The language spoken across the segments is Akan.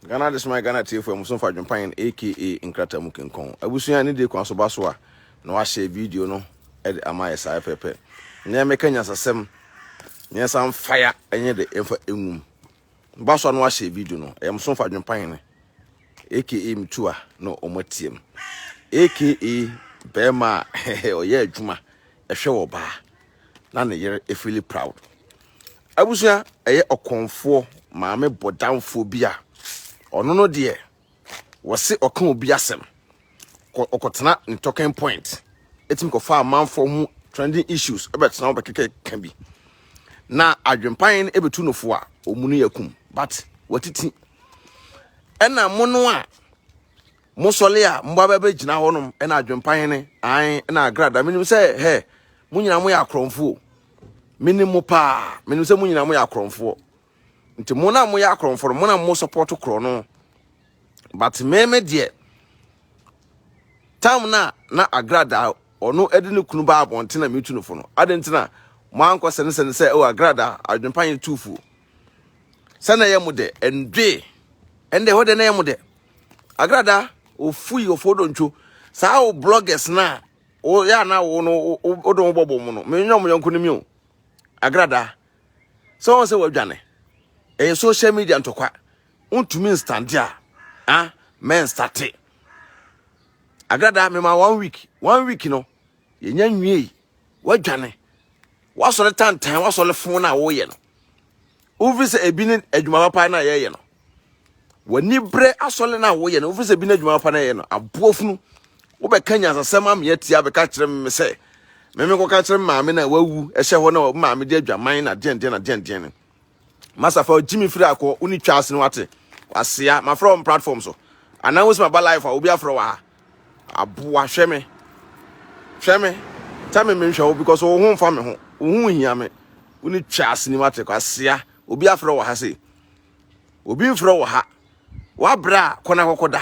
Ghana de soma Ghana atiefo a mmusu mfa adwempan no aka nkrataa mu kinkɔn. Abusua a ne de kwan so ba so a na wɔahyɛ video no de ama ayɛ saa pɛpɛpɛ. Nnɛ yɛmmɛka nyansasɛm mmiɛnsa mfa ya nyɛ de mfa ngum. Ba so a na wɔahyɛ video no, ɛyɛ mmusu mfa adwempan no aka mtu a na wɔatiam aka barima a ɔyɛ adwuma ɛhwɛ wɔ baa. na ne yere efili proud. Abusua ɛyɛ ɔkɔnfoɔ maame bɔdamfoɔ bi a ɔno no deɛ wɔse ɔka obi asɛm ɔkɔtena ne talking point ɛtumi kɔfa amanfoɔ ho trending issues ɛbɛtena ho bɛkɛkɛ ka bi na adwempan no ɛbɛtu no fo a ɔmu no yɛ kum but watiti ɛna mo no a Mosɔle a mobɔ abɛ bɛgyina hɔ nom na adwempa hene ae na agrada menim sɛ hɛ mo nyina moyɛ akorɔmfoɔ menim mo paa menim sɛ mo nyina moyɛ akorɔmfoɔ nti mo na moyɛ akorɔmfoɔ no mo na mo support korɔ no but me me deɛ tam na na agrada ɔno ɛde ne kunu ba abɔnten na metu no fo no adɛn nti na mo ankɔ sɛne sɛne sɛ ɛwɔ agrada adwempa yɛ tuufuo sɛ na ɛyɛ mo dɛ ɛndwe ɛndɛ hɔ dɛ na ɛyɛ mo dɛ Agrada ofui ofodontwo saa wo bloggers na wo ya na wo no wo don bobo mu no me nyɛ mo yonko no mi o agrada sɛ wɔn sɛ wadwane ɛyɛ social media ntɔkwa wontumi nstande a a mɛnstate agrada mema one week one week no yɛnya nwiei woadwane woasɔre tantan woasɔre fo no a woyɛ no wofi sɛ ebi ne adwuma papa no a yɛyɛ no w'ani berɛ asɔre no a woyɛ no wofi sɛ ebi ne adwuma papa no a yɛyɛ no aboa funu wobɛka nyansasɛm ameɛ tia bɛka kyerɛ me sɛ meme kɔka kyerɛ me maame no a wawu ɛhyɛ hɔ na maame de adwaman na deɛndeɛn na deɛndeɛn no Masa fa gyimi firi akɔ wo ne twaase no wate wasea mafrɛ wɔn platform so anaa wosi maba life a obi afrɛ wɔ ha aboa hwɛ me hwɛ me tell me menhwɛ wo because wo ho mfa me ho wo ho hia me wo ne twaase ni wate wasea obi afrɛ wɔ ha sei obi mfrɛ wɔ ha wabra kɔ na kɔkɔda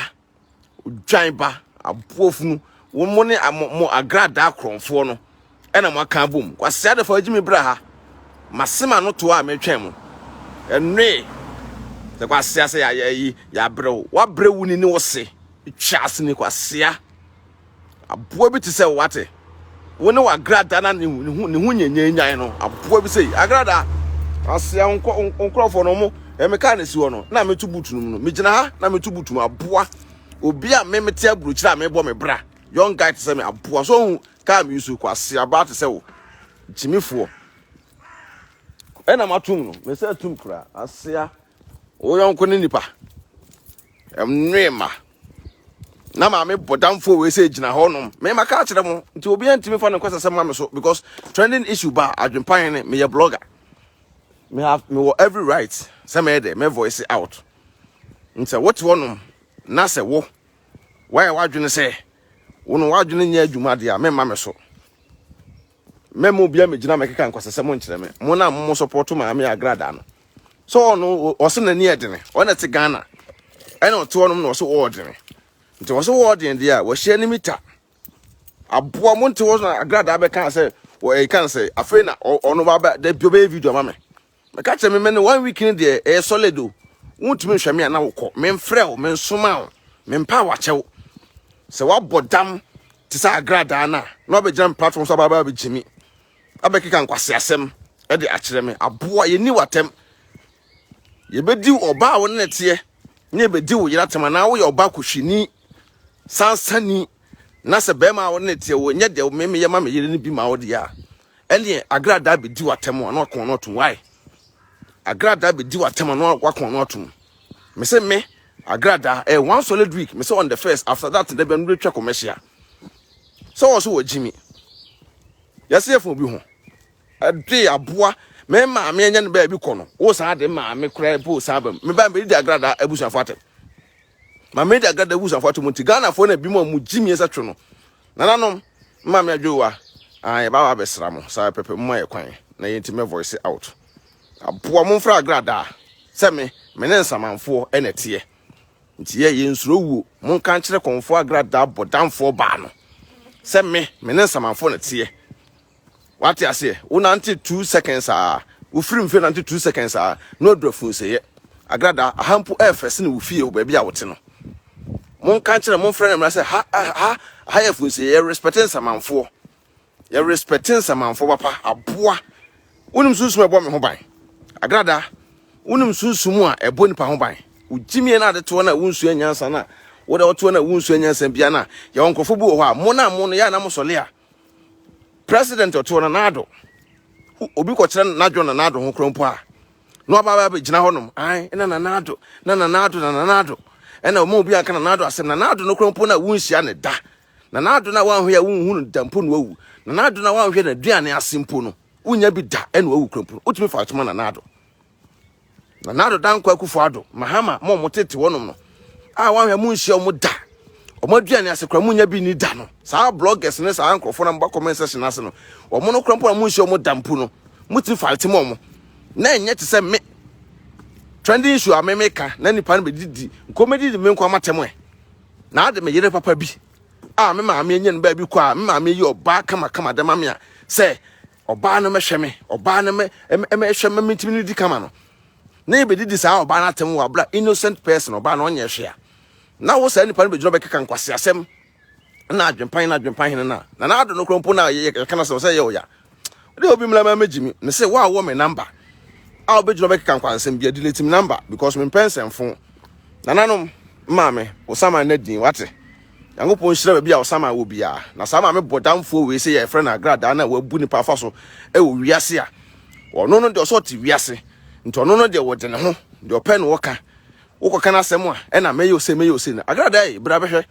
Odwan ba, aboɔfunu, wo mo ne mo agradaa korɔnfoɔ no ɛna mo aka abom. Kwasi Adefo agye me bra ha. Masema no to a metwɛn mo. Ɛnoe. Sɛ kwasi ase ya ya yi ya brɛ wo. Wa brɛ wo ni ne wo se. Twa ase ni kwasi a. Aboa bi te sɛ wate. Wo ne w'agrada na ne ho ne ho nyanyanyan no. Aboa bi sɛ agrada. Asea nkurɔfoɔ no mo ɛme kaa na si hɔ no na meto butu no mu no megyina ha na meto butu mu aboa obi a me mete aburokyire a mebɔ me bra young guy te sɛ me aboa so hu kaa me yusu kɔ asea ba te sɛ wo gyimifoɔ ɛna matom no mesɛ tum kura asea Wo yɔnko ne nipa. Ɛnwe ma. Na maame bɔdamfo wei sɛ gyina hɔ nom. Me maka akyerɛ mo. Nti obi antimi fa ne nkwasasɛm ma me so because trending issue ba adwempan ne meyɛ blogger. Me have me wɔ every right sɛ mɛyɛ dɛ me voice out. Nti sɛ wote hɔ nom na sɛ wo wayɛ w'adwene sɛ wo no w'adwene nyɛ adwuma deɛ a memma me so. Mɛma obiara mmegyina mmɛkeka nkwasasɛm nkyerɛ me. Mo na mo sɔpɔto Maame Agrada no. So ɔno ɔse n'ani yɛ dene. Ɔna te Ghana. Ɛna ɔte hɔnom na ɔse ɔwɔ dene. Nti ɔse ɔwɔ dene deɛ a wahyia ne mita. Aboa mo nte hɔ na Agrada abɛka sɛ ɛka sɛ afei na ɔno ba da bi ɔbɛyɛ video ama me. Meka kyerɛ me mene one week no deɛ ɛyɛ solid o wontumi nhwɛ me a na wokɔ memfrɛ wo mensoma wo mempa a wakyɛ wo sɛ woabɔ dam te sɛ agradaa no a na wabɛgyina me platform so abaabaa bɛgye me abɛkeka nkwaseasɛm de akyerɛ me aboa yɛni w'atɛm yɛbɛdi ɔba a wo ne ne teɛ ne yɛbɛdi wo yere atɛm anaa woyɛ ɔba kɔhwini sansani na sɛ bɛrima a wo ne ne teɛ wɔ nyɛ deɛ memeyɛ ma me yere no bi ma wo deɛ a Ɛneɛ agradaa bɛdi w'atɛm a na wakɔn ano atom wai agradaa bɛdi w'atɛm a na wakɔn ano atom me se me agradaa eh, one solid week me se on the first after that da bia no bɛtwa kɔmɛhyia sɛ wɔ so wɔ gyimi yɛse yɛfa obi ho ɛde aboa me maame anya no baabi kɔ no wo saa de maame koraa po saa bam me ba mɛdi agradaa abusuafo atɛm ma mɛdi agradaa abusuafo atɛm nti ghanafoɔ no bi mu a mu gyimi ɛsɛ twe no nananom Maame Adwoa, Aah yɛba aba abɛsra mo, saa pɛpɛ, momma yɛ kwan na yɛnti mɛ voice out. Aboa momfrɛ agradaa sɛ me, me ne nsamanfoɔ na ɛteɛ. Nti yɛ, yɛnsuro wuo, monka nkyerɛ kɔmfoɔ agradaa bɔdamfoɔ baa no sɛ me, me ne nsamanfoɔ na ɛteɛ. Wate aseɛ? Wo nante two seconds aa, wo firi mfe nante two seconds aa, na w'aduru afunseyɛ. Agrada, aha mpo ɛyɛ fɛ sene wo fie wɔ baabi a wo te no. Mo nka nkyerɛ, mo nfrɛ no mmra sɛ ha, ha, ha yɛ afunseyɛ, yɛ respect nsamanfoɔ. Yɛ respect nsamanfoɔ papa, aboa. Wonim sunsum a ɛbɔ me ho ban? Agrada, wonim sunsum a ɛbɔ nipa ho ban? Wo gyimie na ade toɔ na wo nsua nyansa na, wo da wo toɔ na wo nsua nyansa bia na, yɛwɔ nkorɔfoɔ bi wɔ hɔ a, mo na mo no yɛ a na mo sɔle a, President ɔto no n'ado. Obi kɔkyerɛ n'adwo na n'ado ho kora mpo a. Na ɔba ba gyina hɔ nom. Ai, na na n'ado, na na n'ado, na na n'ado. Ɛna ɔma obi anka na n'ado asɛm na n'ado no kora mpo na wunhyia ne da. Na n'ado na wanhwɛ a wunhu no da mpo na wawu. Na n'ado na wanhwɛ na duane ase mpo no. Wunya bi da ɛna wawu kora mpo no. Wotumi fa atoma na n'ado. Nana Addo Dankwa Akufo Addo, Mahama, mo a wɔtete hɔnom no, a wɔahwɛ mo nhyia wɔn da, wɔn aduane ase kora mo nya bi ni da no, saa bloggers ne saa nkurɔfoɔ na moba comment section ase no, wɔn no kora mpo na mo nhyia wɔn da mpo no, motumi fight mo wɔn, na ɛnyɛ te sɛ me, trending issue a me meka, na nipa no bɛdidi, nkɔmɛdidi me nkɔ amatɛm ɛ, na ade me yere papa bi, a me maame anya no baabi kɔ a, me maame yi ɔbaa kama kama dɛma me a, sɛ, Ɔbaa no mɛhwɛ me, ɔbaa no mɛ ɛmɛhwɛ mɛ mentumi no di kama no. Na yɛbɛdidi saa ɔbaa no atɛm wɔ abira innocent person ɔbaa no ɔnyɛ hwɛ a. Na wo saa nipa no bɛgyina bɛkeka nkwasi asɛm na adwempan na adwempan hene na na na ado no kora mpo na yɛka no sɛ yɛ ɔya. Ɛdɛ obi mmla mɛ gyimi ne sɛ wo a wɔ me namba a wobɛgyina bɛkeka nkwansɛm bia delete me namba because mempɛ nsɛmfo nananom maame wo sama na din wate. Nyankopɔn nhyira baabi a Ɔsaman wɔ biara. Na saa maame bɔdamfoɔ wei sɛ yɛfrɛ no agradaa no a wabu nipa afa so wɔ wiase a, ɔno no deɛ ɔsɛ ɔte wiase. Nti ɔno no deɛ wɔde ne ho, deɛ ɔpɛ na ɔka. Wokɔka n'asɛm a, ɛna mɛyɛ ose, mɛyɛ ose no. Agradaa ei, bra bɛhwɛ.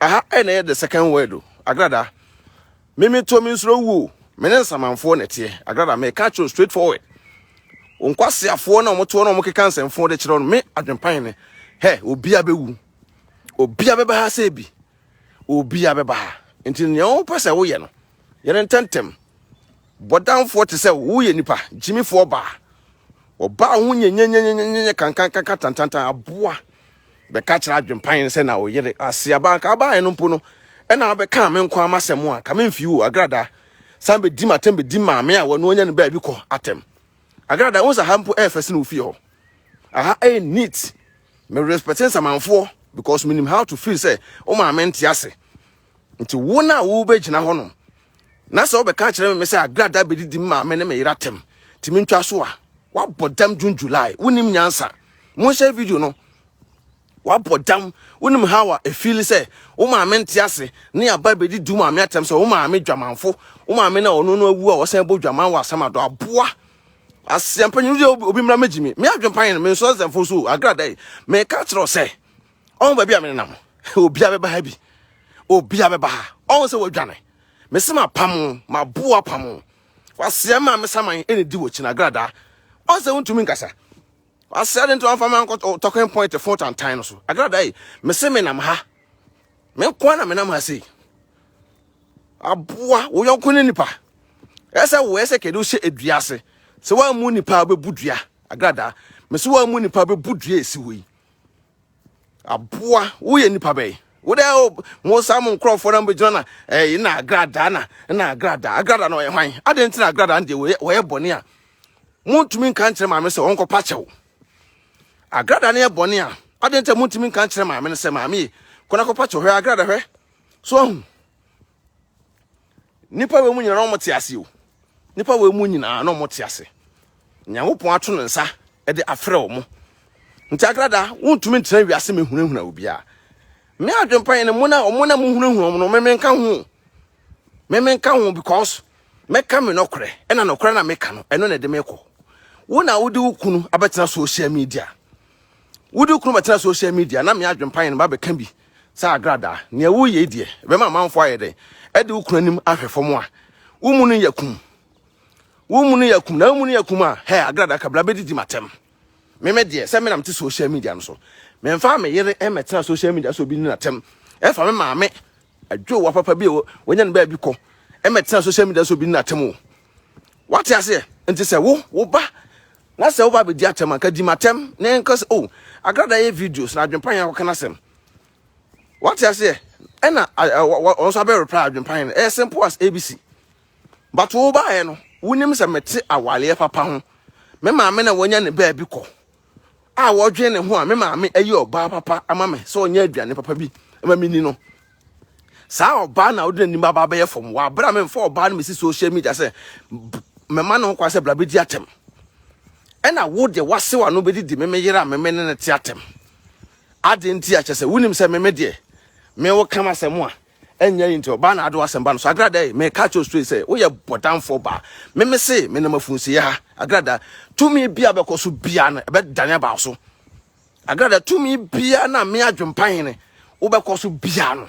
Aha ɛna ɛyɛ the second word o, agradaa. Me me to me nsoro wuo, me ne nsamanfoɔ na ɛteɛ. Agradaa me ka kyerɛ straight forward. Nkwaseafoɔ na wɔtoɔ na wɔkeka nsɛmfoɔ de kyerɛ no, me adwempan ne, hɛ, obia bɛwu. obia bɛba ha sɛ bi obia bɛba ha nti nea wopɛ sɛ woyɛ no yɛ no ntɛntɛm bɔdamfoɔ te sɛ woyɛ nipa gyimifoɔ baa ɔbaa ho nyɛnyɛnyɛnyɛnyɛ kankankanka tantantan aboa bɛka kyerɛ adwempan sɛ na ɔyere aseaba nka abaeɛ no mpo no ɛna abɛka me nko ama sɛ mo a ka memfi wo agradaa san bɛdi m atɛm bɛdi maame a wɔno anya no baabi kɔ atɛm agradaa wo sɛ ha mpo ɛfɛ sene wofie hɔ Aha ɛyɛ neat. Me respect nsamanfoɔ because menim how to feel sɛ wo maame nte ase. Nti wo na wo bɛgyina hɔ nom. Na sɛ wobɛka kyerɛ me sɛ agrada bɛdidi me maame ne me yera tɛm. Nti mentwa so a. Wabɔ dam June July. Wonim nyansa. Monhyɛ video no. Wabɔ dam. Wonim how a ɛfiili sɛ wo maame nte ase ne aba abɛdi du maame atɛm sɛ wo maame dwamanfo, wo maame no a ɔno no awu a wɔsan bɔ dwaman wɔ Asamado, aboa. Asia mpanyin no deɛ obi mmra mmɛgye me. Me adwempan no, menso nsɛmfo nso o, agrada yi, meka akyerɛ wo sɛ ɔho baabi a menenam. Obia bɛba ha bi. Obia bɛba ha. Ɔho sɛ wadwane. Mese mapam wo, maboa apam wo. Wasia maame saman ɛna di wɔ kyi no, agrada. Ɔho sɛ wontumi nkasa. Ɔsɛ de nti wɔmfa me ankɔ talking point fo tantan no so. Agrada yi, mese menam ha. Me nko na menam ha sei. Aboa wo yɔnko ne nipa. Ɛsɛ wo ɛsɛ kɛde wohyɛ adua ase. Sɛ woammu nipa a wobɛbu dua. Agrada, mese woammu nipa a wobɛbu dua ɛsi hɔ yi. Aboa woyɛ nipa bɛyi. Wode mo saa mo nkurɔfoɔ na mbɛgyina na ɛyi na agrada na na agrada. Agrada na ɔyɛ hwan? Adɛn nti na agrada no deɛ wɔyɛ bɔne a Montumi nka nkyerɛ maame sɛ ɔnkɔpa kyɛw. Agrada no yɛ bɔne a, adɛn nti a montumi nka nkyerɛ maame no sɛ maame ye, kɔ na kɔpa kyɛw, hwɛ agrada hwɛ. So ahu? Nnipa wei mu nyinaa na wɔte ase o. Nnipa wei mu nyinaa na wɔte ase. Nyankopɔn ato ne nsa de afrɛ wɔn. Nti agrada, wontumi ntena wiase mehunahuna obiara. Me adwempa yɛ ne mo na wɔn na mohunahuna wɔn no, me menka ho. Me menka ho because Mɛka me nɔkorɛ, ɛna nɔkorɛ na meka no, ɛno na ɛde me kɔ. Wo na wode wo kunu abɛtena social media. Wode wo kunu bɛtena social media na me adwempa yɛn ba bɛka bi sɛ agradaa. Nea woyɛ yi deɛ, ɛbɛma amanfoɔ ayɛ dɛn? Ɛde wo kunu anim ahwɛ fam a, wo mu no yɛ kum. Wo mu no yɛ kum, na wo mu no yɛ kum a, hɛ, agradaa kabla bɛdidi m'atɛm. Me me deɛ, sɛ me na mete social media no so, memfa me yere mmɛtena social media sɛ obi di n'atɛm. Ɛfa me maame Adwowa papa bi a wanya no baabi kɔ ɛmɛtena social media so bi no atem o wate aseɛ nti sɛ wo wo ba na sɛ wo ba bɛdi atɛm anka di matɛm na ɛnka sɛ o agrada yɛ videos na adwempa yɛn akɔka no asɛm wate aseɛ ɛna wɔn nso abɛ reply adwempa yɛn ɛyɛ simple as abc but wo baeɛ no wonim sɛ mete awaleɛ papa ho me maame na wanya ne baabi kɔ a wɔdwen ne ho a me maame ayi ɔbaa papa ama me sɛ ɔnyɛ aduane papa bi ma menni no saa ɔbaa na wode n'anim aba abɛyɛ fam wɔabrɛ a memfa ɔbaa no mesi social media sɛ mɛma ne ho kwa sɛ bra bɛdi atɛm ɛna wo deɛ woasew ano bɛdidi meme yere a meme ne no te atɛm ade nti akyɛ sɛ wonim sɛ meme deɛ me wo kam asɛm a ɛnyɛ yi nti ɔbaa na ado asɛmba no so agrada yi meka kyerɛ straight sɛ woyɛ bɔdamfoɔ baa meme se menam afunsie ha agrada tumi bia bɛkɔ so bia no ɛbɛdane aba so agrada tumi bia na me adwempa hene wobɛkɔ so bia no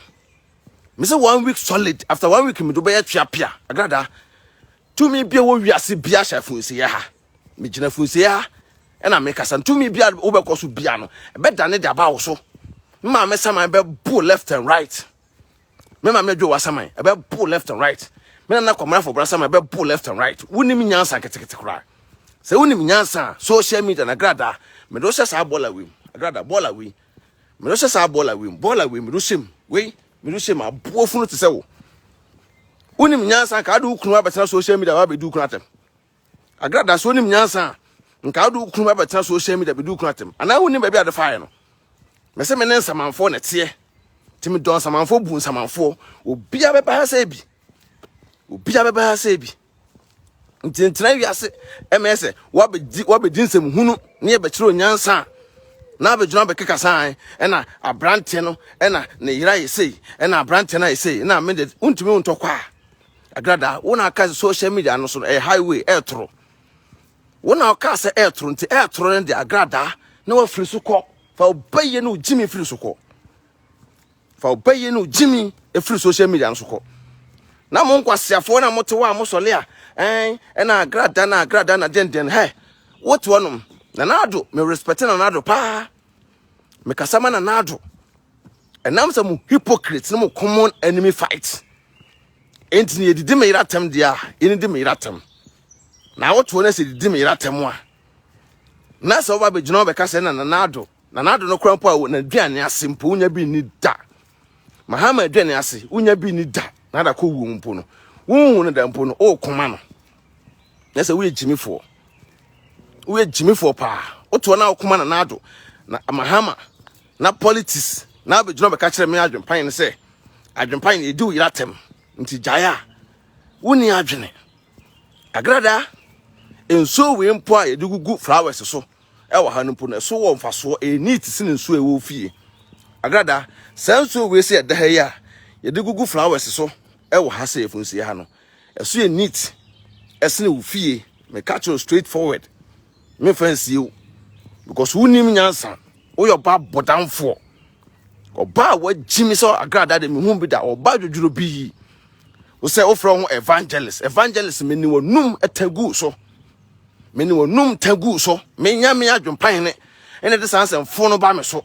me se one week solid after one week me do bɛyɛ twea pia agrada tumi bia wɔ wiase bia hyɛ afunsie ha megyina funsie ha ɛna mekasa ntumi bia wobɛkɔ so bia no ɛbɛdane de aba wo so me maame saman bɛbo left and right me maame adwo wa saman ɛbɛbo left and right me nana kɔmra fɔbra saman ɛbɛbo left and right wonim nyansa ketekete koraa sɛ wonim nyansa a social media na grada mede wo hyɛ saa bɔɔla wei mu agrada bɔɔla wei mede wo hyɛ saa bɔɔla wei mu bɔɔla wei mede wo hyɛ mu wei mede wo hyɛ mu aboɔ funu te sɛ wo wonim nyansa ka ade wo kunu abɛtena social media wabɛdi wo kunu atɛm Agrada sɛ wonim nyansa a nka wode wo kunu abɛtena social media bɛdi wo kunu atɛm anaa wonim baabi ade faeɛ no mɛsɛ me ne nsamanfoɔ na ɛteɛ nti medɔ nsamanfoɔ bu nsamanfoɔ obia bɛba ha sɛ bi obia bɛba ha sɛ bi nti ntena wiase ɛmɛyɛ sɛ wabɛdi wabɛdi nsɛm hunu ne yɛbɛkyerɛ onyansa a na abɛgyina bɛkeka saa ɛna aberanteɛ no ɛna ne yera yɛ sei ɛna aberanteɛ no ayɛ sei na mede wontumi wontɔ kɔ a Agrada, wo na aka social media no so no ɛyɛ highway ɛretoro. Wo na ɔka sɛ ɛretoro nti ɛretoro no de agrada na wafiri so kɔ. Fa ɔbɛyɛ no gyimi firi so kɔ. Fa ɔbɛyɛ no gyimi firi social media no so kɔ. Na mo nkwaseafoɔ na mo te hɔ a mo sɔle a ɛn ɛna agrada na agrada na dɛndɛn hɛ. Wote hɔ nom. Nana Ado, me respect Nana Ado paa. Me kasa ma Nana Ado. Ɛnam sɛ mo hypocrite ne mo common enemy fight. Enti na yɛdidi me yere atɛm deɛ a yɛne di me yere atɛm na awotoɔ no sɛ didi me yere atɛm a na sɛ woba bɛgyina hɔ bɛka sɛ na nanaado nanaado no kora mpo a n'aduane ase mpo wonya bi nni da mahama aduane ase wonya bi nni da na ada kɔ wuo mpo no wonhu no da mpo no wokoma no na sɛ woyɛ gyimifoɔ woyɛ gyimifoɔ paa wotoɔ na wokoma na naado na mahama na politics na abɛgyina bɛka kyerɛ me adwempan no sɛ adwempan no ɛdi wo yera tɛm nti gyae a wonni adwene agrada nsuo wei mpo a yɛde gugu flowers so ɛwɔ ha no mpo no ɛso wɔ mfasoɔ ɛyɛ neat sene nsuo ɛwɔ fie agrada saa nsuo wei sɛ ɛda ha yi a yɛde gugu flowers so ɛwɔ ha sɛ yɛfunsie ha no Ɛso yɛ neat ɛsene wo fie meka kyerɛ straight forward me fa nsie wo because wonim nyansa woyɛ ɔba bɔdamfoɔ ɔba a wagyi me sɛ agrada de mehu bi da ɔba dwodworo bi yi wo sɛ wofrɛ ho evangelist evangelist me ne wanum tagu so me ne wanum tagu so menya me adwempan ne ɛna de saa nsɛmfo no ba me so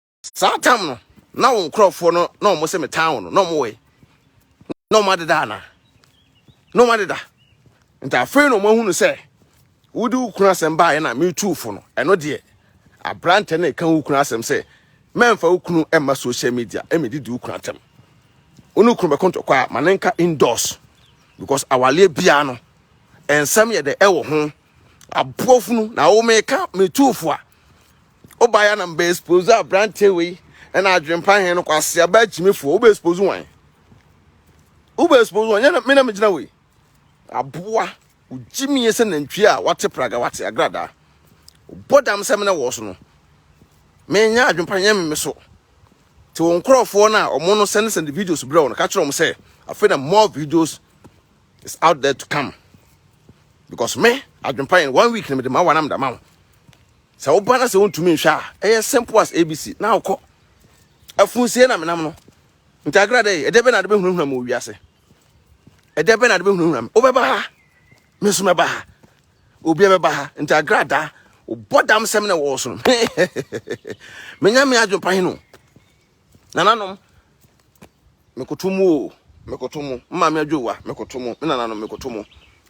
saa tam no na wo nkurɔfoɔ no na wɔn se metaa wɔn no na wɔn wɔ yi na wɔn adeda ana na wɔn adeda nti afei na wɔn ahunu sɛ wode wo kunu asɛm baeɛ na metu fo no ɛno deɛ aberantɛ na ɛka wo kunu asɛm sɛ mɛmfa wo kunu mma social media ɛmɛdidi wo kunu atɛm wo ne kunu bɛko ntɔkwa a ma ne nka indoors because awaleɛ biara no ɛnsɛm yɛ dɛ ɛwɔ ho aboɔfunu na wo meka metu fo a wobaeɛ a na mbɛ expose aberanteɛ wei ɛna adwempa he no kwase aba akyimifoɔ wobɛ expose wan wobɛ expose wan yɛna mena megyina wei aboa wogyimie sɛ nantwie a wate praga wate agradaa wobɔ dam sɛ mena wɔ so no menyɛ adwempa nyɛ me me so te wo nkurɔfoɔ no a ɔmo no send send videos berɛ wo no ka kyerɛ ɔmo sɛ afei na more videos is out there to come because me adwempa yɛn one week na mede ma wa na mede ma wo Sɛ wo ba na sɛ wontumi nhwɛ a, ɛyɛ simple as ABC. Na wokɔ. Afunsie na menam no. Ntagra dɛ, ɛdɛ bɛ na ade bɛhunahuna me wɔ wiase. Ɛdɛ bɛ na ade bɛhunahuna me. Wobɛba ha. Me nso mɛba ha. Obiara bɛba ha. Ntagra da. Wobɔ dam sɛm na ɛwɔ so no. Menya me adwempa hene o. Nananom, mekoto mo o, mekoto mo. Me maame adwowa, mekoto mo. Me nananom, mekoto mo.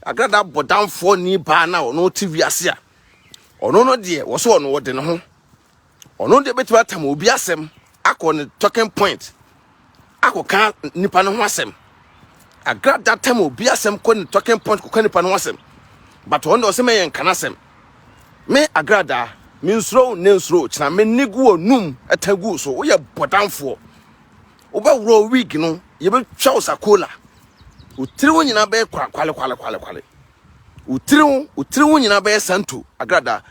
Agrada bɔ damfoɔ ni baa no a ɔno te wiase a ɔno no deɛ wɔ so ɔno ɔde ne ho ɔno deɛ bɛtumi atam obi asɛm akɔ ne talking point akɔka nipa no ho asɛm agrada tam obi asɛm kɔ ne talking point kɔka nipa no ho asɛm but ɔno deɛ ɔsɛ mɛyɛ nka no asɛm Me agradaa, me nsuro wo ne nsuro wo kyena, me ne gu wɔ num ɛta gu so, woyɛ bɔdamfoɔ. Wobɛworɔ wig no, yɛbɛtwa wo sakola. Wo tiri wo nyinaa bɛyɛ kwale kwale kwale kwale. Wo tiri wo, wo tiri wo nyinaa bɛyɛ santo agradaa.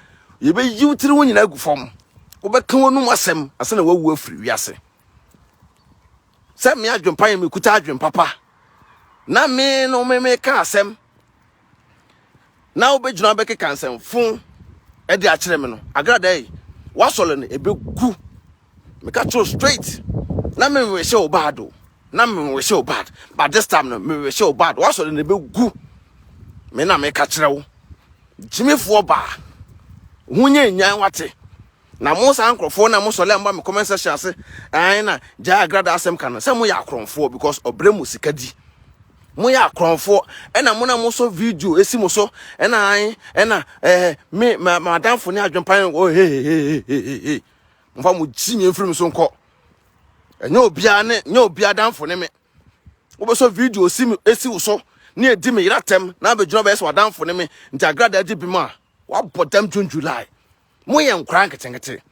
Yɛbɛyi wo tiri wo nyinaa agu fam. Wobɛka w'anum asɛm asɛ na wawu afiri wiase. Sɛ me adwempa yɛ mekuta adwempapa na me no me meka asɛm na wobɛgyina wobɛkeka nsɛmfo de akyerɛ me no agrada yi woasɔre no ɛbɛgu meka kyerɛ straight na mewehye wo bad o na mewehye wo bad but this time no mewehye wo bad woasɔre no ɛbɛgu me na meka kyerɛ wo gyimifoɔ baa ho nyɛ nyan wate Na mo saa nkurɔfoɔ na mo sɔle a moba me comment section ase ɛn na gyae agrada asɛm ka no sɛ moyɛ akorɔmfoɔ because ɔbrɛ mo sika di moyɛ akorɔmfoɔ ɛna mo na mosɔ video esi mo so ɛna an ɛna ɛɛ me ma madamfo ne adwempan wɔ hehehehehe mofa mo gyi nyɛ mfiri me so nkɔ ɛnyɛ obiara ne nyɛ obiara damfo ne me wobɛsɔ video si me esi wo so ne edi me yera tɛm na abɛgyina bɛyɛ sɛ wadamfo ne me nti agrada agye bi mu a wabɔ dam june july moyɛ nkwadaa nketenkete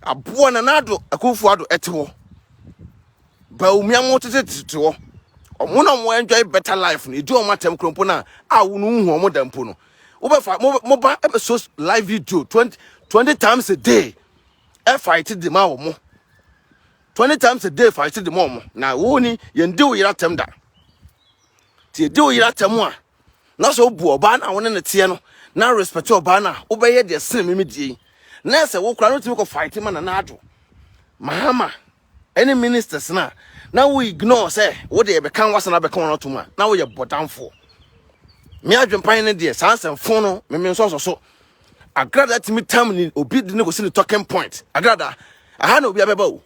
aboa na n'ado akunfo ado ɛte hɔ baumia mo tete tete hɔ ɔmo na ɔmo enjoy better life no edi ɔmo atɛm kurompo na a wo no hu ɔmo da mpo no wobɛfa mo mo ba episode live video twenty twenty times a day ɛfa ete de ma ɔmo twenty times a day fa ete de ma ɔmo na wo ni yɛn di wo yera tɛm da. Nti edi wo yere atɛm a na sɛ obu ɔbaa no a wo ne no teɛ no na respect ɔbaa no a, wobɛyɛ deɛ sene me me die yi. Na ɛsɛ wo koraa na wotumi kɔ fight ma Nana Addo, Mahama ɛne ministers no a na wo ignore sɛ wo deɛ yɛbɛka no wasan abɛka wɔn atom a na woyɛ bɔdamfoɔ. Me adwempan ne deɛ saa nsɛmfo no me me nsɔsɔ so. Agrada tumi tam ni obi de ne kɔsi ne talking point. Agrada aha na obi abɛba o.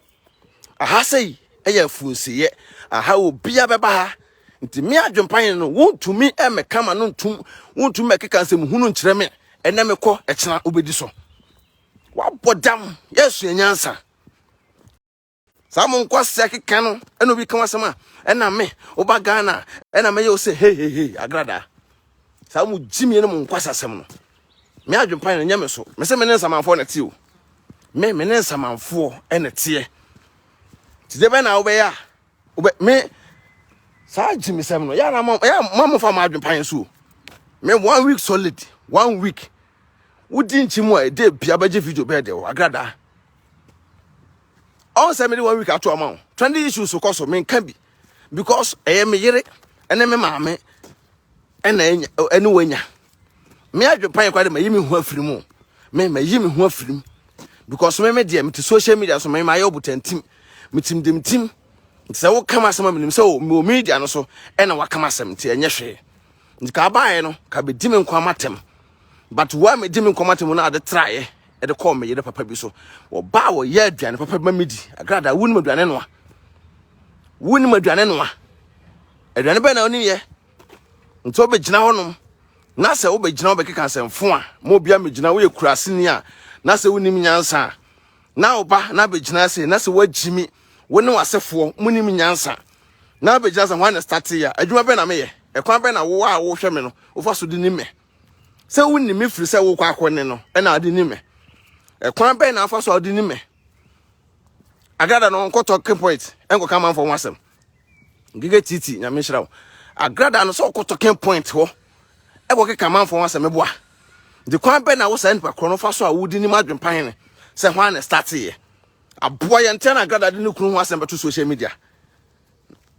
Aha sei yɛ afunseeɛ. Aha obiara bɛba ha. Nti me adwempan no wontumi mmɛka ma no ntom, wontumi mmɛkeka nsɛm hunu nkyerɛ me. Ɛnɛ mekɔ, ɛkyena wobɛdi so. Wabɔ dam, yɛasua nyansa. Saa mo nkɔ sɛ keka no, ɛna obi ka wasɛm a, ɛna me, woba Ghana, ɛna mɛyɛ wo sɛ hehehe, agradaa. Saa mo gyimie no mo nkɔ asasɛm no. Me adwempa no nyɛ me so. Me se me ne nsamanfoɔ na te o. Me me ne nsamanfoɔ na teɛ. Ti de bɛ na wobɛyɛ a wobɛ me saa gyimisɛm no yɛa na mo yɛ mo amofa mo adwempa yɛn so o. Me one week solid one week wodi nkyi mu a ɛde bia bɛgye video bɛɛ de o agrada. Ɔn sɛ me de one week ato ama o. Trendy issues so kɔ so me nka bi because ɛyɛ me yere ɛne me maame ɛna ɛne wanya Me adwepan kwa de mayi me ho afiri mu. Me mayi me ho afiri mu. Because me me deɛ mete social media so me mayɛ ɔbotantim. Metim dem tim. Nti sɛ woka m asɛm a menim sɛ wɔ media no so ɛna waka m asɛm nti ɛnyɛ hwee. Nti ka abaeɛ no ka bɛdi me nkwa matɛm. But wo a medi me nkwa matɛm no ade traeɛ ɛde kɔɔ me yere papa bi so. Wɔba a wɔyɛ aduane papa bi ma medi. Agrada wonim aduane noa. Wonim aduane noa. Aduane bɛn na wonim yɛ? nti wobɛgyina hɔnom na sɛ wobɛgyina wobɛkeka asɛmfo a ma obia mɛgyina woyɛ kuraseni a na sɛ wonim nyansa a na woba na abɛgyina ase na sɛ woagyimi wo ne w'asefoɔ monim nyansa na abɛgyina sɛ hwan na starte a adwuma bɛn na meyɛ ɛkwan bɛn na wo a wohwɛ me no wofa so de ni me sɛ wonni me firi sɛ wokɔ akɔ ne no ɛna ade ni me ɛkwan bɛn na afa so a ɔde ni me agrada no nkɔtɔ key point ɛnkɔka manfoɔ ho asɛm Gege titi nyame nhyira wo. Agrada no sɛ ɔkɔ talking point hɔ ɛkɔ keka manfo ho asɛm boa. De kwan bɛ na wo saa nipa korɔ no fa so a wodi nim adwempa hene sɛ hwan na starte yɛ. Aboa yɛn ntia na agrada de ne kunu ho asɛm bɛto social media.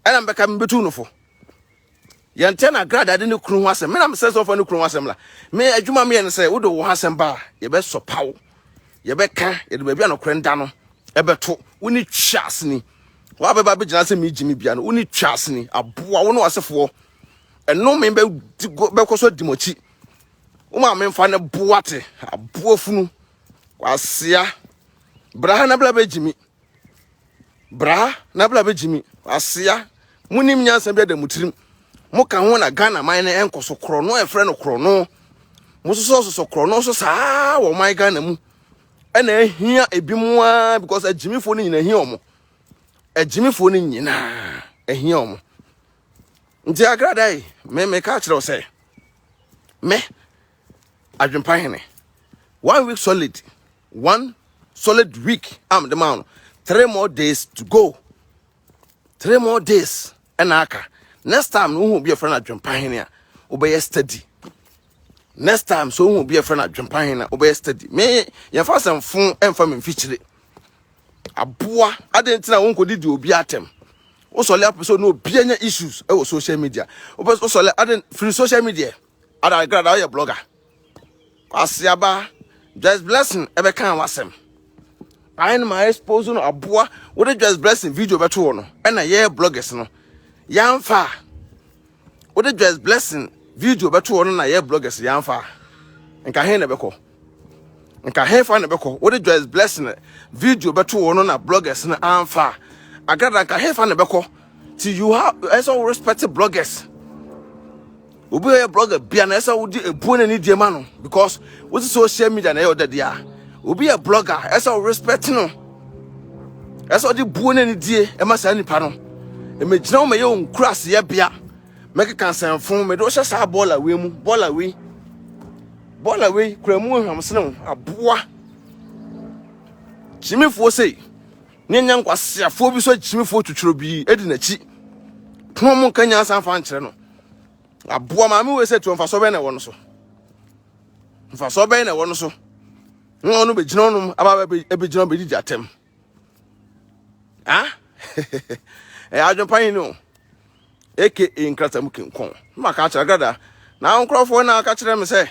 Ɛna mbɛka mbetu no fo. yɛntɛ na grad ade ne kunu ho asɛm me na mesɛ sɛ ɔfa ne kunu ho asɛm la me adwuma meyɛ no sɛ wode wo ho asɛm ba a yɛbɛsɔ paw yɛbɛka yɛde baabi a nokorɛ nda no ɛbɛto wo ne twa aseni hɔ a bɛba bɛgyina sɛ megye me bia no wo ne twa aseni aboa wo ne wasefoɔ ɛno me bɛkɔ so adi mɔkyi wo ma memfa ne boa te aboa funu kwasia bra ha na bla bɛgye me Bra na bra bɛgye mi asea monim nyansa bi ada mo tirim moka ho na Ghana man no ɛnkɔ so korɔno ɛfrɛ no korɔno mososɔ sosɔ korɔno so saa wɔ man Ghana mu ɛna ahia ebi mu a because agyimifoɔ no nyina ahia ɔmo agyimifoɔ no nyinaa ahia ɔmo nti agrada yi me me ka kyerɛ sɛ me adwempa hene one week solid one solid week a mede maa no three more days to go three more days ɛna aka next time no wohu obi ɛfrɛ no adwempa hene a wobɛyɛ steady next time so wohu obi ɛfrɛ no adwempa hene a wobɛyɛ steady me yɛmfa asɛmfo ɛmfa me mfikyire aboa adɛn nti na wonkɔdi di obi atɛm wosɔle apɛ sɛ ɔne obi anya issues ɛwɔ social media wopɛ sɛ wosɔle adɛn firi social media adagrada woyɛ blogger Kwasiaba, Joyce Blessing ɛbɛka wasɛm. Ayɛ no ma expose no aboa wode Joyce Blessing video bɛto hɔ no ɛna yɛ bloggers no yɛamfa a wode Joyce Blessing video bɛto hɔ no na yɛ bloggers yɛamfa a nka he na ɛbɛkɔ nka he fa na ɛbɛkɔ wode Joyce Blessing video bɛto hɔ no na bloggers no amfa a agrada nka he fa na ɛbɛkɔ ti you have ɛsɛ wo respect bloggers obi a ɔyɛ blogger bia na ɛsɛ wode ebuo na ne deɛ ma no because wote social media na ɛyɛ ɔda deɛ a obi yɛ blogger ɛsɛ wo respect no ɛsɛ ɔde buo na ne die ɛma saa nipa no ɛmɛgyina wo mɛyɛ wo nkura aseɛ bia mɛkeka nsɛmfo mɛde wohyɛ saa bɔɔla wei mu bɔɔla wei bɔɔla wei kura mu ohwam sene wo aboa gyimifoɔ sei Ne nyɛ nkwaseafoɔ bi so akyimifoɔ twitwerɛ bi di n'akyi pono mu nka nyansa mfa nkyerɛ no aboa maame wei sɛ tuo mfasoɔ bɛn na ɛwɔ no so mfasoɔ bɛn na ɛwɔ no so na ɔno bɛgyina ɔnom aba bɛgyina bɛdidi atɛm ah ɛyɛ adwempa yi ne o aka nkrata mu kenkɔn na maka akyerɛ grada na nkurɔfoɔ na aka kyerɛ me sɛ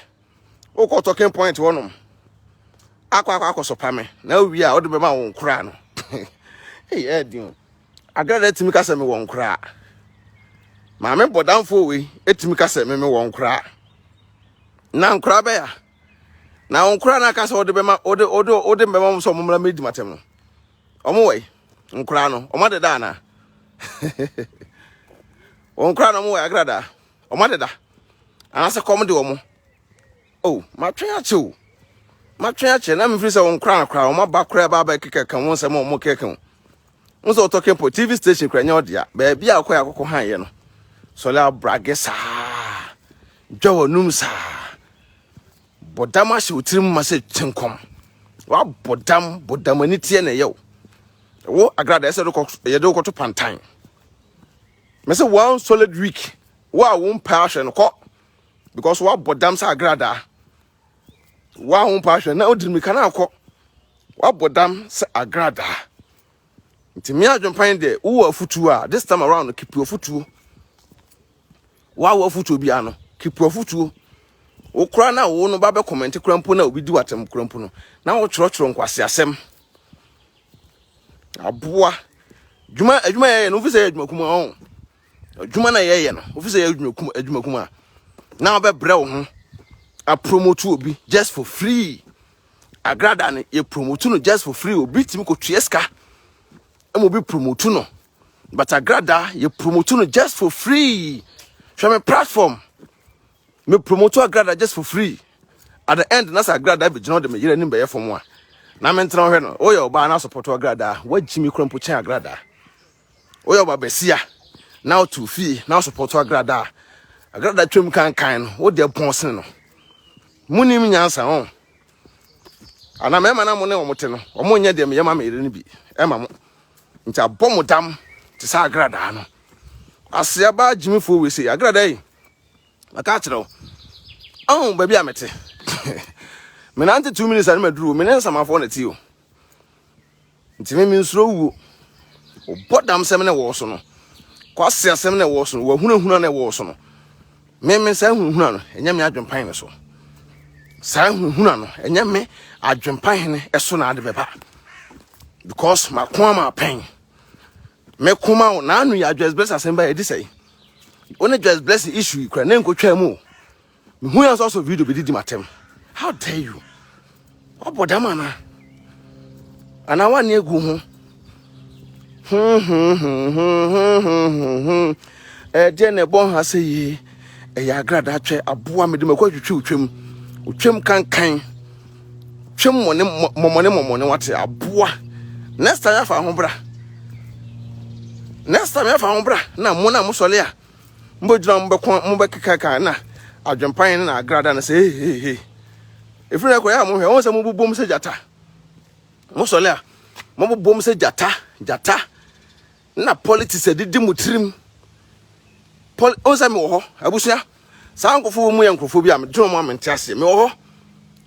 wokɔ talking point hɔnom akɔ akɔ akɔsopa me na wowie a wode bɛma wo nkoraa no ɛyɛ adin o agrada tumi ka sɛ me wɔ nkoraa maame bɔdamfoɔ wei ɛtumi ka sɛ me me wɔ nkoraa na nkoraa bɛya na wo nkoraa no aka sɛ wode bɛma wode wode wode bɛma mo sɛ ɔmo mmra mɛdi matɛm no ɔmo wɔ yi nkoraa no ɔmo adeda anaa wɔn koraa na wɔn wɔ agrada wɔn adeda anaasɛ kɔm de wɔn o matwɛn akyɛ o matwɛn akyɛ na mefiri sɛ wɔn koraa koraa wɔn aba koraa ba abɛ keka ka wɔn nsɛm a wɔn keka o wɔn sɛ wɔtɔ kempo tv station koraa nyɛ ɔdea baabi a wɔkɔ yɛ akɔkɔ han yɛ no sɔle abrage saa dwa wɔn num saa bɔ dam ahyɛ wɔn tirim ma sɛ kyenkɔm wabɔ dam bɔ dam ani teɛ na ɛyɛ o wo agrada ɛsɛ yɛde wokɔto pantan Me say one solid week. Wa wo mpa ahwɛ no kɔ because wa bɔ dam sɛ agrada. Wa wo mpa ahwɛ na odi mika na akɔ. Wa bɔ dam sɛ agrada. Nti me adwempan de wo wɔ afutuo a this time around no keep your afutuo. Wa wo afutuo bi ano keep your afutuo. Wo kora na wo no ba bɛ comment kora mpo na obi di watem kora mpo no. Na wo twerɛ twerɛ nkwasi asɛm. aboa dwuma adwuma yɛyɛ no wofi sɛ yɛ adwuma kuma ɔn adwuma na yɛyɛ no wofi sɛ yɛ adwuma kuma adwuma kuma a na wobɛbrɛ wo ho apromote obi just for free agrada no yɛ promote no just for free obi tumi kɔtua sika ɛma obi promote no but agrada yɛ promote no just for free hwɛ me platform me promoto agrada just for free at the end na sɛ agrada bɛgyina ɔde me yere anim bɛyɛ fam a na mentena hwɛ no woyɛ ɔbaa na asopɔto agrada woagyi me kora mpo kyɛn agrada woyɛ ɔba basia na wotu fie na asopɔto agrada agrada twam kankan no wode pɔn sene no munim nyansa ho ana mɛma na mo ne wɔn te no wɔn nyɛ deɛ meyɛ ma me yere no bi ɛma mo nti abɔ mo dam te sɛ agradaa no aseaba gyimifoɔ wei sɛ agradaa yi maka akyerɛ wo ɔn baabi a mete menante two minutes a ne maduru o me ne nsamafoɔ na ti o nti me mensuro wuo ɔbɔ dam sɛm na ɛwɔ so no kwase asɛm na ɛwɔ so no wahunahuna na ɛwɔ so no meme saa hunahuna no ɛnyɛ me adwempan no so saa hunahuna no ɛnyɛ me adwempan no ɛso na ade bɛba because mako ama apɛn mekoma wo naano yɛ adwɛsbɛs asɛm ba ɛdi sɛe Wo ne Joyce Blessing issue yi kura ne nkotwa mu o. Mehu yɛn nso asɔ video bi didi matam. How dare you? Wabɔ dam ana? Ana wani egu ho? Ɛdeɛ na ɛbɔ ha sɛ yie. Ɛyɛ agradaa twɛ aboa mede mako atwitwi otwam. Otwam kankan. Twe mmɔne mmɔne mmɔne wate aboa. Next time afa ho bra. Next time afa ho bra na mo na mo sɔle a mo bɛ gyina mo bɛ kɔn mo bɛ keka kan na adwempan ne na agrada ne sɛ hey hey hey. Efiri na kɔ ya mo hwɛ wɔn sɛ mo bobom sɛ jata. Mo sɔle a mo bobom sɛ jata jata. na politics adidi mo tirim poli o sɛ mewɔ hɔ abusua saa nkurɔfoɔ wɔ mu yɛ nkurɔfoɔ bi a medwene wɔn a mente aseɛ mewɔ hɔ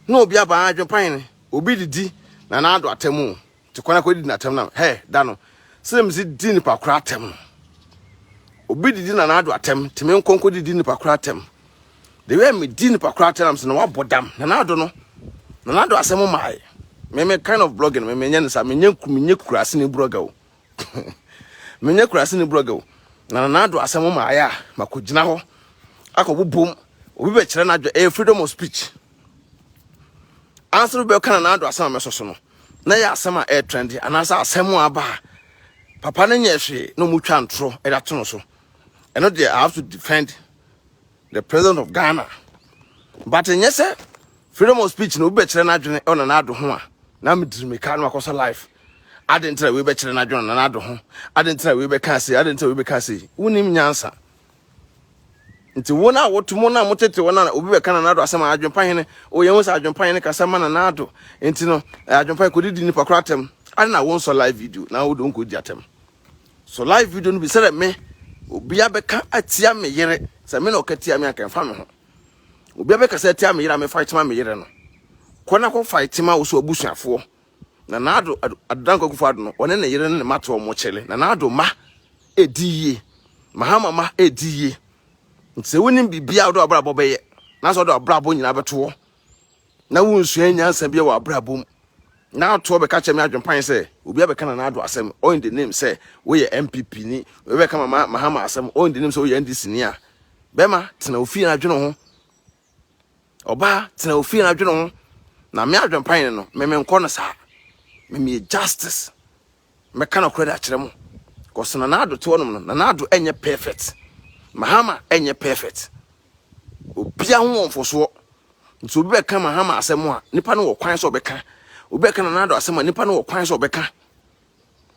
na obi abaa adwene pan ne obi didi na n'ado atɛm o te kwan akɔdidi n'atɛm na hɛ da no sɛ mesi di nipa kora atɛm no obi didi na n'ado atɛm te me nkɔnkɔ didi nipa kora atɛm the way me di nipa kora atɛm na mesɛ na wabɔ dam na n'ado no na n'ado asɛm maae me me kind of blogging me menyɛ ne saa menyɛ menyɛ kurase ne blogger o Menyɛ kuraseni blogger o, na Nana Addo asɛm ma ayɛ a makɔgyina hɔ akɔbobom. Obi bɛkyerɛ n'adwene, ɛyɛ freedom of speech. Ansa obi bɛka Nana Addo asɛm a mɛsɔ so no, na ɛyɛ asɛm a ɛyɛ trend anaasɛ asɛm a aba a papa no nyɛ hwee na wɔtwa ntorɔ de ato no so. Ɛno deɛ I have to defend the president of ghana but nyɛ sɛ freedom of speech na obi bɛkyerɛ n'adwene ɔna n'ado ho a na mediri meka no akɔsɔ life ade ntra wei bɛkyerɛ n'adwene ɔna n'ado ho ade ntra wei bɛka ase ade ntra wei bɛka ase wonim nyansa nti wo na woto mo na motete wo na obi bɛka na n'ado asɛm a adwempa hene o yɛn ho sɛ adwempa hene kasa ma na n'ado nti no eh, adwempa kɔdidi nipa koro atɛm ade na wonsɔ live video na wode wonkɔdi atɛm So live video no bi sɛ dɛ me obi abɛka atia me yere sɛ me na ɔka tia me anka ɛmfa me ho obi abɛka sɛ atia me yere a me fight ma me yere no kɔ na kɔ fight ma wo so abusuafoɔ na naado adodanko akufo ado no ɔne ne yere ne ne ma to ɔmo kyele na naado ma ɛdi yie mahama ma ɛdi yie nti sɛ wonim biribiaa wode ɔbrabɔ bɛyɛ na sɛ wode ɔbrabɔ nyinaa bɛtoɔ Na wonsuae nyansa biara wɔ abrabɔ mu. Na atoɔ bɛka kyerɛ me adwempan sɛ obi abɛka Nana Addo asɛm all in the name sɛ woyɛ NPP ni, obi abɛka Mama Mahama asɛm all in the name sɛ woyɛ NDC ni a, bɛrima tena wo fie na dwene wo ho. Ɔbaa tena wo fie na dwene wo ho. Na me adwempan no, me menkɔ no saa. Me meyɛ justice. mɛka nɔkorɛ de akyerɛ mo cause Nana Addo te hɔnom no Nana Addo ɛnyɛ perfect Mahama ɛnyɛ perfect obia ho wɔ mfosoɔ nti obi bɛka Mahama asɛm a nipa no wɔ kwan sɛ ɔbɛka obi bɛka Nana Addo asɛm a nipa no wɔ kwan sɛ ɔbɛka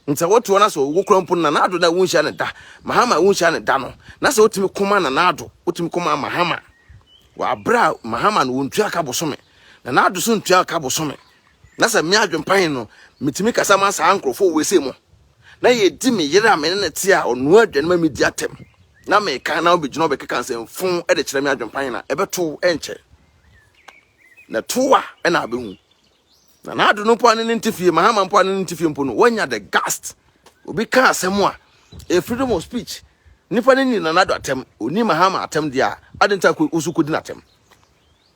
nti sɛ wotoɔ na sɛ ɔwɔ kura mpo Nana Addo na wonhyia ne da Mahama wonhyia ne da no na sɛ wotumi koma Nana Addo wotumi koma Mahama wɔ aberɛ a Mahama no wɔntua ka bosome Nana Addo so ntua ka bosome Na sɛ me adwempa he no, metumi kasa ma saa nkurɔfoɔ wei sei mo, na yɛdi me yere a me ne no te a ɔnoa aduane ma medi atɛm, na meeka na ɔbɛgyina ɔbɛkeka nsɛmfuu de kyerɛ me adwempa he na ɛbɛto wo ɛnkyɛ. Na ɛto wo a, ɛna abɛhu. Na n'ado no mpo a ne ne nte fie, Mahama mpo a ne ne nte fie mpo no, wanya the gust. Obi ka asɛm a, ɛyɛ freedom of speech. Nnipa no nni Nana Addo atɛm, ɔnni Mahama atɛm deɛ a, adɛn nti a wo nso wokɔdi no atɛm?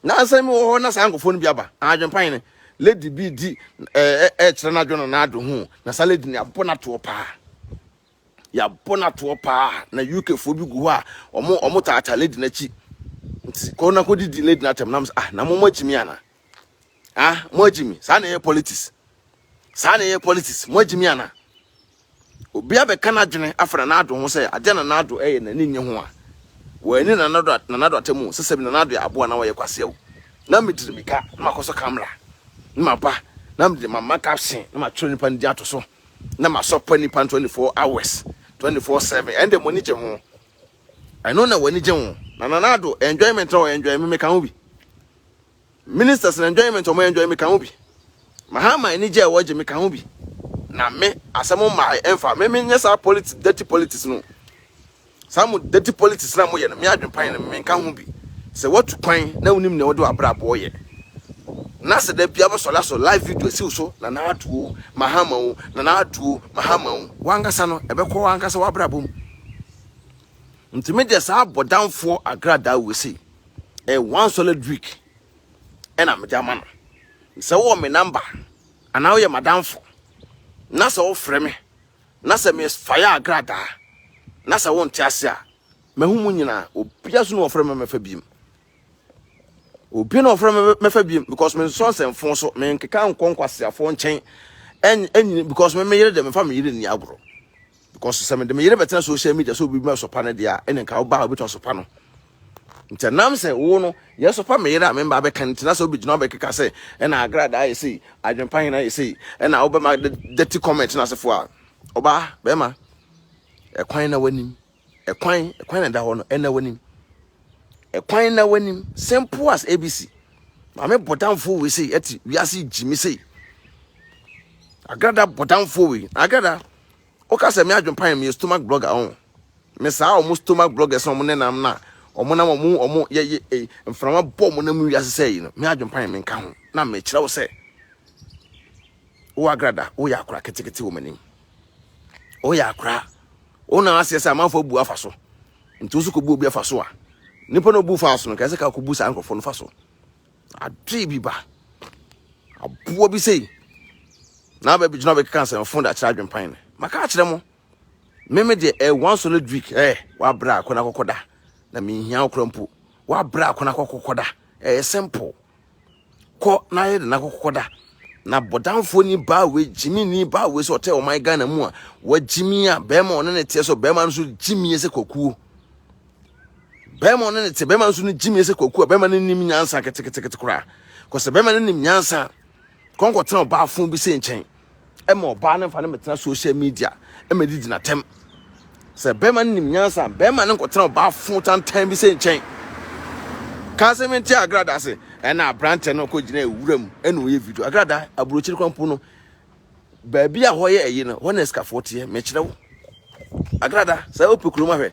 Nansa yi mowɔ hɔ na saa nkorɔfoɔ no bi aba. Adwenpa hene, lady bi redi ɛɛ ɛɛkyerɛ n'adwene no n'ado ho o, na saa lady no yɛabɔ no atoɔ paa. Yɛabɔ no atoɔ paa, na UK foɔ bi gu hɔ a wɔn wɔn taataa lady no akyi. Nti kɔ na kɔdidi lady no atɛm, na mo sɛ ah na mo moagyi me anaa? Ah moagyi me? Saa na ɛyɛ politics. saa na ɛyɛ politics mo agyimi ana obi abɛka n'adwene afa na n'ado ho sɛ adeɛ na n'ado ɛyɛ n'ani nye ho a wɔani na n'ado na n'ado atamu sɛ sɛ bi na n'ado yɛ aboa na wɔyɛ kwaseɛ o na mediri mika na makɔ so kamera na maba na mede mama caption na matwerɛ nipa no di ato so na masɔpa nipa no 24 hours 24 7 ɛnde mo ani gye ho ɛno na wɔani gye ho na na n'ado enjoyment na wɔyɛ enjoy me meka ho bi Ministers no enjoyment a ɔmo enjoy me ka ho bi. Mahama anigye a ɛwɔ gye me ka ho bi. Na me, asɛm mmae ɛmfa, me me nyɛ saa politics, dirty politics no. Saa mo dirty politics no a moyɛ no, me adwenpan no, me nka ho bi. Sɛ watu kwan na wonim nea wode w'abrabɔ yɛ, na sɛ da biara wobɛsɔre asɔ live video asi wo so, Nana Addo o, Mahama o, Nana Addo o, Mahama o. W'ankasa no, ɛbɛkɔ w'ankasa w'abrabɔ mu. Nti me deɛ saa abɔdamfoɔ agradaa wei sei, ɛyɛ one solid week ɛna mede ama no sɛ wowɔ me number anaa woyɛ madamfo na sɛ wofrɛ me na sɛ mesfayɛ agradaa na sɛ wonte ase a mahu mu nyinaa obia so ne wɔfrɛ me mɛfa biem obi na ɔfrɛ me mɛfa biem because mensɔ nsɛmfo so menkeka nkɔ nkwaseafoɔ nkyɛn ɛnyini because me meyere deɛ mefa meyere nni agorɔ because sɛ mede me yere bɛtena social media sɛ obi bi asɔpa no deɛ a ɛna nka ɔbaa a obɛtumi asɔpa no nti nam sɛ wo no yɛsɔpa me yere a memba bɛka no tena sɛ wobɛgyina wobɛkeka sɛ ɛna agrada ayɛ sei adwempa hena ayɛ sei ɛna wobɛma dirty comment no asefo a ɔbaa bɛrima ɛkwan na w'anim ɛkwan ɛkwan na ɛda hɔ no ɛna w'anim ɛkwan na w'anim simple as abc maame bɔdamfoɔ wei sei ɛte wiase gyimi sei agrada bɔdamfoɔ wei agrada Woka sɛ me adwempa yɛ meyɛ stomach blogger ɔn me saa ɔmo stomach bloggers na ɔmo nenam na ɔmo nam ɔmo ɔmo yɛ yɛ eh, mframa bɔ ɔmo nam wiase sɛ yi no me adwempa yɛ menka ho na mekyerɛ wo sɛ wo agrada woyɛ akora ketekete wɔ m'anim woyɛ akora wo na aseɛ sɛ amanfoɔ bu afa so nti wo so kɔbu obi afa so a nipa na obu fa so no kɛse ka kɔbu saa nkurɔfoɔ no fa so Adwee bi ba. Aboa bi sei. Na aba bi gyina bɛ keka asɛm fon da kyerɛ adwempan no. Maka akyerɛ mo. Me me deɛ eh one solid week eh wa bra akɔna kɔkɔ da. Na me hia okura mpo. Wa bra akɔna kɔkɔ kɔ da. Eh simple. Kɔ na yɛ de na kɔkɔ da. Na bɔdanfoɔ ni baa wei gyimi ni baa wei sɛ ɔtɛ ɔman Ghana mu a wa gyimi a bɛrima ɔne ne teɛ so bɛrima no so gyimi sɛ kwakuo. bɛrima ɔne ne te bɛrima nso no gyimi sɛ kwaku a bɛrima no nim nyansa ketekete koraa kɔsɛ bɛrima no nim nyansa kɔnkɔ tena ɔbaa fun bi sɛ nkyɛn ɛma ɔbaa no nfa no mɛtena social media ɛma didi na tɛm sɛ bɛrima no nim nyansa bɛrima no nkɔ tena ɔbaa fun tantan bi sɛ nkyɛn kansɛ mi nti agrada se ɛna abrante no kɔ gyina ewura mu ɛna ɔyɛ video agrada aburokyiri kwan po no baabi a hɔ yɛ ɛyi no hɔ na ɛsikafo teɛ mɛkyerɛ wo agrada sɛ ɔpɛ kurom ahwɛ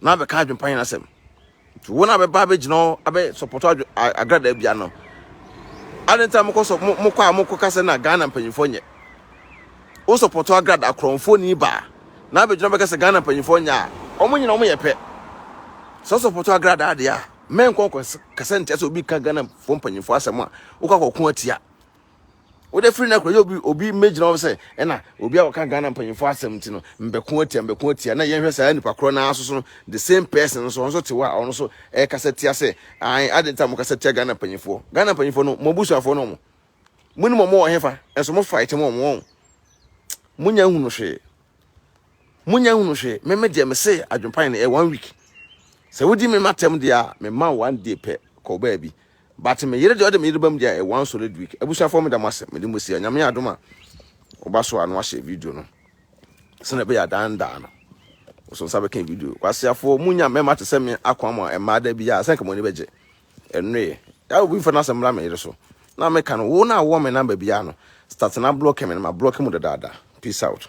na abɛka adwempa nyina asɛm nti wɔn a bɛba abɛgyina hɔ abɛ sɔpɔtɔ agradaa bia no ade nti a mokɔ sɔ mokɔ a mokɔ kasa na Ghana mpanyinfoɔ nyɛ wo sɔpɔtɔ agradaa korɔnfoɔ ni baa na abɛgyina bɛka sɛ Ghana mpanyinfoɔ nyɛ a wɔn nyina wɔn yɛ pɛ sɛ sɔpɔtɔ agradaa deɛ a mɛnkɔ kasa ntia sɛ obi ka Ghana foɔ mpanyinfoɔ asɛm a wokɔ akɔko atia wode firi no akora obi obi mmɛgyina hɔ sɛ ɛna obi a wɔka ghana mpanyimfoɔ asɛm nti no mbɛko atia mbɛko atia na yɛnhwɛ saa nipa korɔ naa soso no the same person nso ɔno te hɔ a ɔno nso ɛkasa tia sɛ an ade nta mo kasa tia ghana mpanyimfoɔ ghana mpanyimfoɔ no mo abusuafoɔ no mo mo ni mo mo wɔ hefa nso mo fight mo wɔn mo nya hunu hwee Munya nhunu hwee. Me me deɛ mese adwempan no ɛyɛ one week. Sɛ wodi me matɛm deɛ a mema wo one day pɛ kɔ baabi. But me yere deɛ ɔde me yere bam deɛ ɛyɛ one solid week. Abusuafoɔ meda mo ase mede mo si a nyame adom a woba so a na wahyɛ video no sɛnea ɛbɛyɛ adandaa no so nsa bɛka video kwaseafoɔ munya mmarima te sɛ me akoa mu a mmaa da bi a sɛ nka mo ani bɛgye ɛnoe yɛ obi mfa no asɛm mmra me yere so na meka no wo na awɔ me namba biara no start na blɔke me no ma blɔke mu dadaada peace out